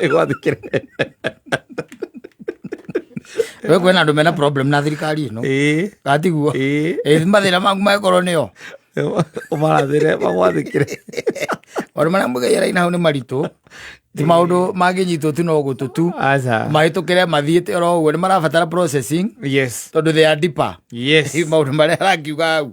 Igual de que... we kwena andu mena problem na thirikari ino gatiguo mathira maku makorwo nio umarathire magwathikire maundu maria mugeiraina hau ni maritu ti maundu manginyitwo tu no gutu tu mahitukire mathiite oro uguo ni marabatara processing yes tondu they are deeper yes maundu maria arangiuga hau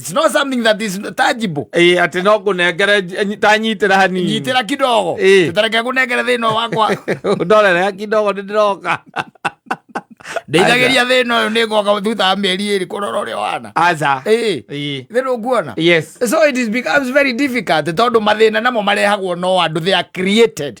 It's not something that is tangible. Eh, ati no kunengere nyi- tanyitira hanini Nyitira kidogo. Eh. Tutareke kunengere thina wakwa. ndorere kidogo nĩ ndĩroka Ndeithagiria thina uyu ni ngoka thutha wa mieri iri kurora uria wana. aza Eh. Eh. Thina ukuona. yes So it is becomes very difficult tondu mathina namo marehagwo no andu they are created.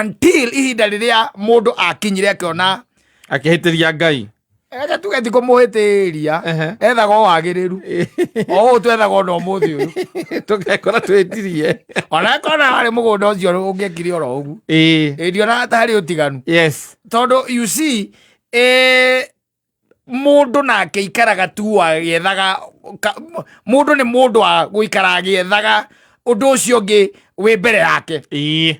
until ihinda rĩrĩa mũndũ akinyire akĩona akĩhĩtĩria ngai reke tuge ti kũmũhĩtĩria ethaga o wagĩrĩru o ũũ twethaga ona ũmũthĩ ũyũ tũgekora twĩtirie ona ekona harĩ mũgũnda ũcio ũngĩekire oro ũgu ĩndiona harĩ ũtiganu tondũ you see eh, mundu nake ikaraga tu agiethaga mundu ni mundu a guikara agiethaga undu ucio ungi wi mbere yake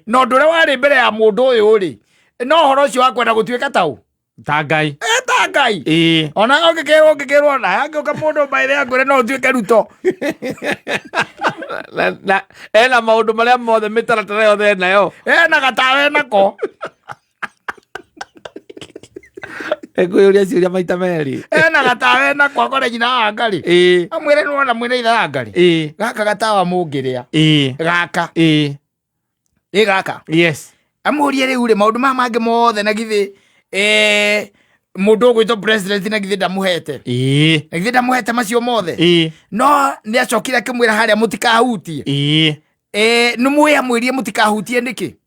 no ndu ria wari mbere ya mundu uyu ri no horo ucio wa kwenda gutuika tau ta ngai eh, ta ngai eh. ona ungikirwo ungikirwo na angiuka mundu mbaire angwire no utuike ruto ena maundu maria mothe mitaratara yothe enayo ena gatawe nako ekwiuria ciuria maita meri ena gatawa ena kwakore nyina wa ngari ii amwire nona mwine itha wa ngari ii gaka gatawa mungiria ii gaka ii ĩ gaka yes amũrie rĩu rĩ maũndũ maya mangĩ mothe na githĩ eh, mũndũ ũgwĩtwo president na githĩ ndamũhete ii na githĩ ndamũhete macio mothe ii no nĩ acokire akĩmwĩra harĩa mũtikahutie ii Eh, nĩ mwĩamwĩrie mũtikahutie nĩkĩ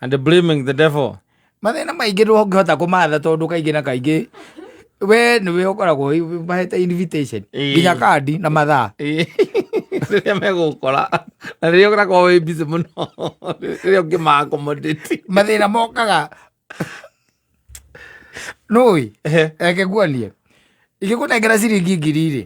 And they're blaming the devil. mathĩna maingĩ ndũngĩhota kũmatha tondũ kaingĩ na kaingĩ we nĩwe ũkoragwo wĩ- mahete invitation Ĩĩ. nginya kandi na mathaa Ĩĩ. rĩrĩa megũkora na rĩrĩa ũkoragwo wĩ busy mũno rĩrĩa ũngĩma accommodate mathĩna mokaga nũĩ reke nguonie ingĩkũnengera ciringi ngiri rĩ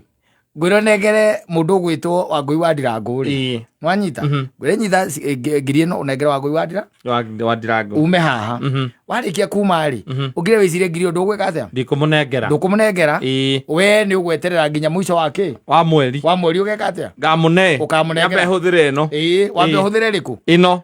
ngwĩra ũnengere mũndũ ũgwĩtwo wangũi wa ndirangũ rĩ Ĩĩ. nwanyita Mhm. ngwĩra nyita ci- eh, ngi- ngiri ĩno ũnengere wangũi wa ndira Wa- wa ndirango ume haha Mhm. warĩkia kuma rĩ Mhm. ũkire wĩcire ngiri ũndũ ũgwĩka atĩa ndikũmũnengera ndũkũmũnengera Ĩĩ. we nĩ ũgweterera nginya mũico wa kĩ wa mweri wa mweri ũgeka atĩa ngamũne Ũkamũnengera. Nyambe hũthĩre ĩno ĩĩ wambe Ĩĩ. ũhũthĩre rĩkũ ĩno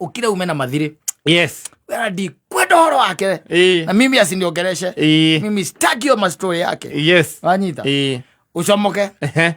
ukire ume na mathiri yes wera ndi kwenda horo wake we. eh na mimi asiniongereshe eh mimi sitaki hiyo mastori yake yes wanyita eh ucomoke ehe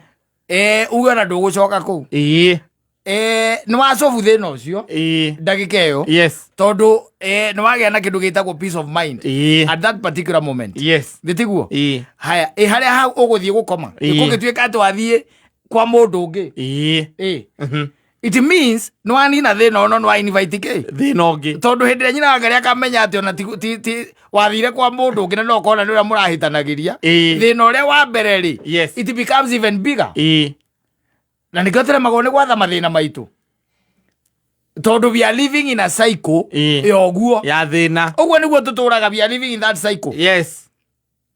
eh uwe na ndũgũcoka kũu eh eh nĩ wacobu thĩna ũcio eh ndagĩka ĩyo yes tondũ eh, nĩ wagĩa na kĩndũ gĩtagwo peace of mind eh at that particular moment yes gĩtiguo eh haya ĩ harĩa hau ũgũthiĩ gũkoma Ĩĩ. gũgĩtuĩka atĩ wathiĩ kwa mũndũ ũngĩ eh ĩ mhm it means no anina thina ono no invite ke thina ungi tondu hindi nyina wanga ria kamenya ati ona ti ti, ti wathire kwa mundu ungi no kona nira murahitanagiria thina uria wa mbere ri yes it becomes even bigger eh na nikio tere magone ni gwatha mathina maitu tondu we are living in a cycle ya oguo ya thina oguo niguo tuturaga we are living in that cycle yes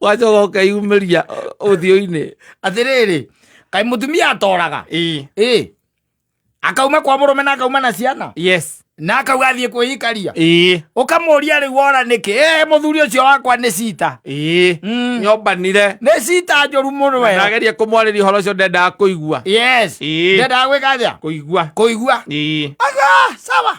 wacoka ukeyumĩria ũthiũ-inĩ atĩrĩrĩ kaĩ mũtumia atoraga Ĩ, ĩ akauma kwa mũrũme na akauma na ciana yes na akauga athiĩ kwĩikaria Ĩ, ũkamũria rĩu wora nĩkĩ ĩ mũthuri ũcio wakwa nĩ cita ĩ, Mm. nyombanire nĩ cita njũru mũno Na wee ndageria kũmwarĩria ũhoro ũcio ndendaga kũigua yes Ĩ. ndendaga gwĩka atĩa kũigua kũigua Ĩ, aga sawa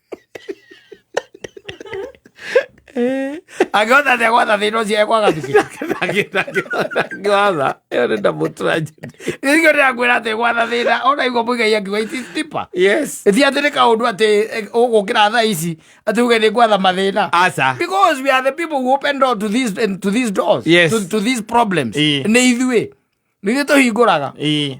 agĩotha thegwatha thĩinĩ ũcio ekwaga agĩotha ĩyo nĩ ndamũtũra njĩra gĩkĩo ndĩrakwĩra atĩ gwatha thĩna ũraigua mũigai akiuga iti tipa yes ti atĩ nĩ kaũndũ atĩ eh, ũgũkĩra thaa ici atĩ uge nĩ gwatha mathĩna aca because we are the people who open door to these, and to these doors Yes. to, to these problems Ĩĩ. nĩ ithuĩ nĩ ithuĩ tũhingũraga Ĩĩ.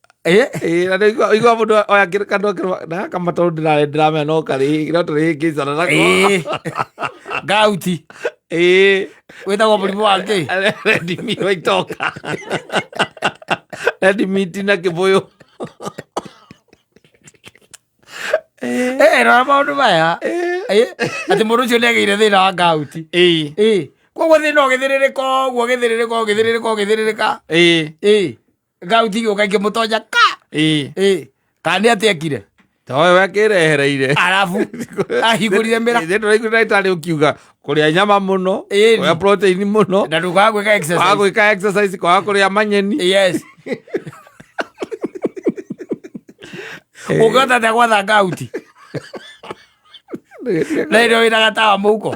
Eh? Eh, na ndigua igua mundu oya kiri kandu akirwa na kama tondu ndira ndiramenya no kari no turi ngicana nako Eh. gauti eh wĩtagwo mũrimũ wa ngĩ redimi waitoka redimi tina kibuyu Eh, rora maũndũ maya Eh, atĩ mũndũ ũcio nĩ agĩire thĩna wa gauti eh Eh, koguo thĩna ũgĩthĩrĩrĩka ũguo ũgĩthĩrĩrĩka ũgĩthĩrĩrĩka ũgĩthĩrĩrĩka eh Eh, gauti gä å ka ingä må tonja ka ä ä kana nä atä ekire towe wakirehereire arabu ahingå rire mä ra ithe turaigua ndagĩtarĩ ũkiuga kũrĩa nyama mũno Ĩni. kũrĩa protein mũno na ndå kaga gwä ka kwaga exercise. gwĩka exercise kwaga kũrĩa manyeni Yes. å ngä hota atä gwatha gauti na ä rä wä na gatawa må huko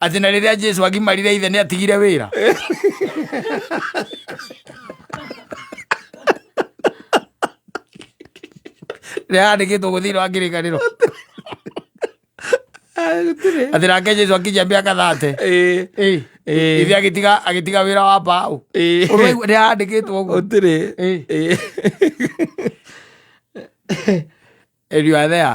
atĩ na rĩrĩa jesu agimarire ithe nĩ atigire wĩra rĩaandĩkĩtwo gũthirĩ wa ngĩrĩkanĩro atĩ nake jesu akijia mĩaka thate ithe agĩtiga agĩtiga wĩra wa mbaũ rĩaandĩkĩtwo ũguo ũtirĩ ĩriũa thea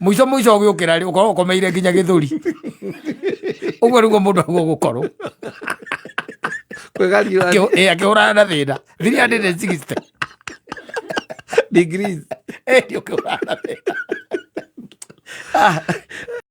muico muico ugiukira ri ukorwo ukomeire nginya githuri uguo niguo mundu aguo gukorwo kwegarira akihurana na thina 360 degrees eh, ndio ukihurana na thina ah.